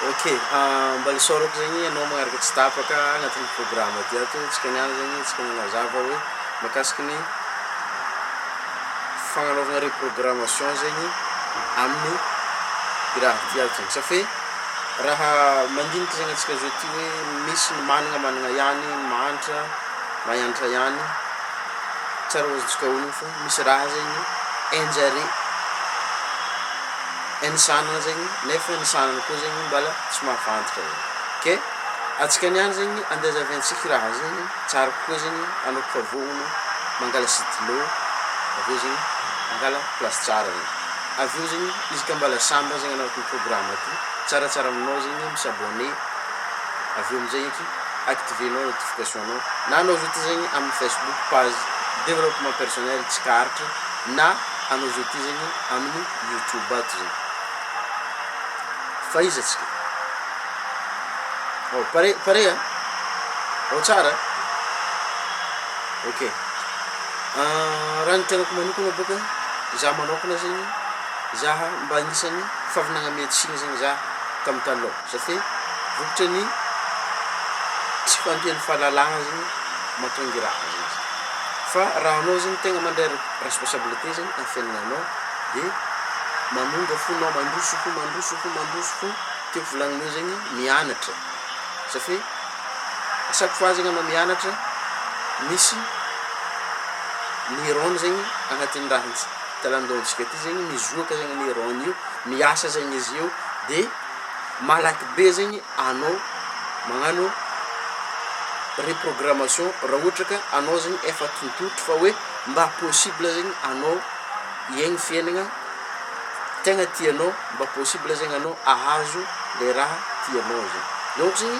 Ok mba isaorako zegny ianao magnaraka tsy tapaka agnatin'ny programme ty ato tsika niany zegny tsika magnazava hoe makasiky ny fagnanaovagna reprogrammation zegny amin'ny raha ty ato zegny safe raha mandinika zegny antsika zao ty hoe misy ny magnana magnana ihany mahantra mahantra ihany tsary ho azontsika onony fô. Misy raha zegny enjare ensanana zegny nefa ny sanana koa zegny mbala tsy mavantika zegny ke antsika niany zegny ande azaviantsika raha zegny tsara kokoa zegny anao koa fa vonono mangala sitylo aveo zegny mangala place tsara regny aveo zegny izy ka mbala sambany zegny anao aty programme aty tsaratsara aminao zegny mi s'abonner aveo amizay eky activer nao notification. Anao na anao zao ty zegny amin'ny Facebook page développement personnel tsy kaharitry na anao zao ty zegny amin'ny YouTube ato zegny fa iza tsika ao pare pare a ao tsara ok raha ny tenako manokana boka za manokana zegny zaha mba agnisan'ny favinagna miantsigny zegny za tamy taloha. Satria vokatry ny tsy fahampian'ny fahalalahana zany mahatonga raha zany zany. Fa raha anao zany tegna mandray responsabilité zany amin'ny fiainananao de manonga fonao mandroso fo mandroso fo mandroso fo tiako volagnina eo zegny mianatra satria à chaque fois zegny anao mianatra misy neurones zegny agnatin'ny raha ts- talandohantsika aty zegny mizoaka zegny neurones io miasa zegny izy io de malaky be zegny anao magnano reprogrammation raha ohatra ka anao zegny efa tontontotro fa hoe mba possible zegny anao hiaigny fiaignana tegna tianao mba possible zegny anao ahazo le raha tianao zegny, donc zegny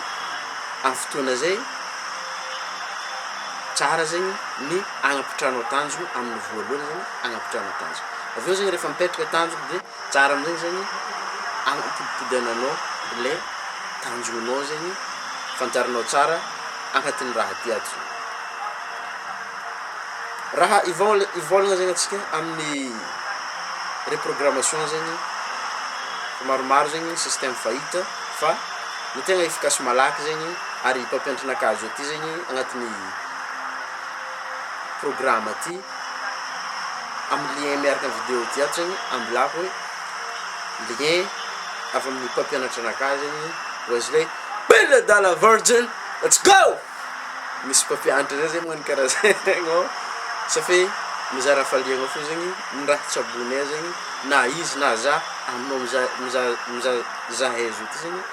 amin'ny fotoagna zay tsara zegny ny agnapitrahanao tanjogno amin'ny voalohany zegny agnapitrahanao tanjogno, avy eo zegny rehefa mipetraka tanjogno de. Tsara amizay zany anapodipodananao le tanjonao zegny fantarinao tsara agnatin'ny raha ty ato zany. Raha ivôla- ivôlagna zegny atsika amin'ny reprogrammation zegny fa maromaro zegny système fahita fa ny tegna efficace malaky zegny ary mpampianatra anakajo aty zegny agnatin'ny programa ty. amin'ny lien miaraka amin'ny vidéo ity ato zegny ambilako hoe lien avy amin'ny mpampianatra anakahy zegny Wesley Bella Dala Virgin let's go! misy mpampianatra zay zegny magnano karaha zegny ô sa fe mizara hafaliagna fô zegny ny raha tsaboinay zegny na izy na zah aminao miza- miza- miza- zahay zao ty zegny.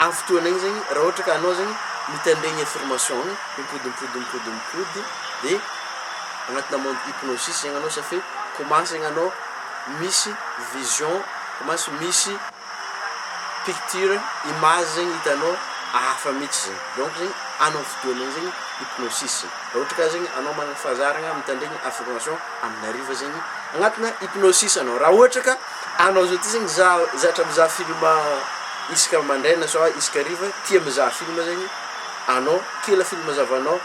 Amin'ny fotoana iny zegny raha ohatra ka anao zegny mitandregny ny affirmation ny mipody mipody mipody mipody de agnatina monde hypnosis zegny anao satria commence zegny anao misy vision commence misy picture image zegny hitanao hafa mihitsy zegny donc zegny anao amin'ny fotoana iny zegny hypnosis raha ohatra ka zegny anao manana fahazaragna mitandregny affirmation amin'ny hariva zegny agnatina hypnosis anao raha ohatra ka Anao zao ty zany mizaha zatra mizaha film isaka mandraina sa isaka hariva tia mizaha film zegny anao kila film zavanao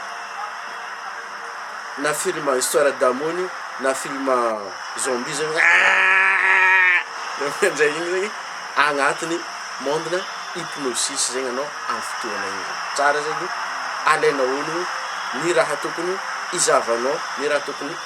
na film histoire d'amour ny na film zombie zany eehh zay igny zegny agnatiny monde na hypnosis zegny anao amy fotoagna igny zany tsara zegny alainao honogno ny raha tokony hizavanao ny raha tokony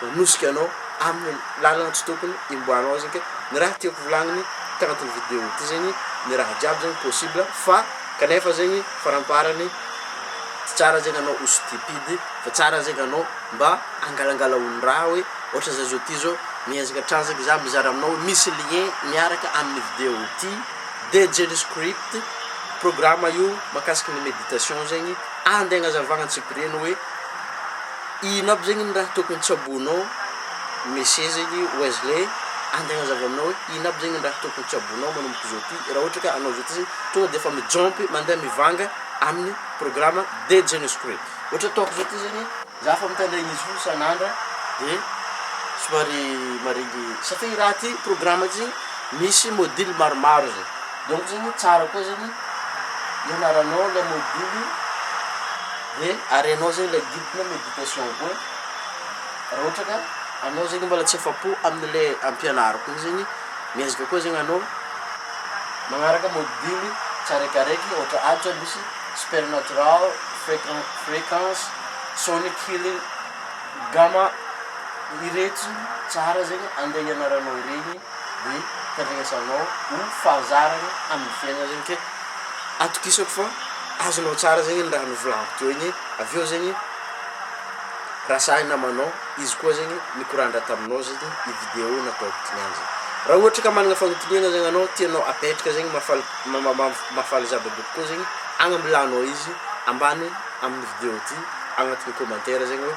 hanosika anao amin'ny lalana tsy tokony himboahanao izy ke ny raha tiako volagniny tagnatin'ny video ity zegny ny raha jiaby zegny possible fa kanefa zegny faramparany tsy tsara zegny anao ho stupide fa tsara zegny anao mba hangalangala olon-draha hoe ohatra zah zao ty zao miezaka hatrany zegny zah mizara aminao hoe misy lien miaraka amin'ny video ity DJ script programa io makasiky ny meditation zegny andeha agnazavagna antsipiriany hoe Ino aby zegny ny raha tokony tsaboinao Monsieur zegny Wesley antegna zava aminao hoe ino aby zegny ny raha tokony tsaboinao manomboka zao ty raha ohatra ka anao zao ty zegny tonga de efa mijompy mandeha mivanga aminy programa de Genius Crew ohatra ataoko zao ty zegny za fa mitandregny izy foagna isan'andra de somary maregny satria i raha ty programa ty zegny misy module maromaro zay donc zegny tsara koa zegny ianaranao le module Hoe ary ianao zay ilay guide na méditation koa raha ohatra ka anao zegny mbola tsy afa-po amin'ilay ampianariko igny zegny miezaka koa zegny anao magnaraka module tsiraikiraiky ohatra atra misy supernatural, fréquen- fréquence, sonic healing, gamma iretsy tsara zegny andeha ianaranao iregny ny fandrenesanao ho fahazarana amin'ny fiainana zegny ke atokisako fa azonao tsara zegny ny raha novolagno teo igny avy eo zegny raha sahy namanao izy koa zegny nikorandra taminao zegny i video nataoko ty niany zany raha ohatra ka managna fanontaniana zegny anao tianao apetraka zegny mahafaly ma- ma- ma- mahafaly zava-be kokoa zegny agnambilanao izy ambany amin'ny video ty agnatin'ny kômantera zegny hoe.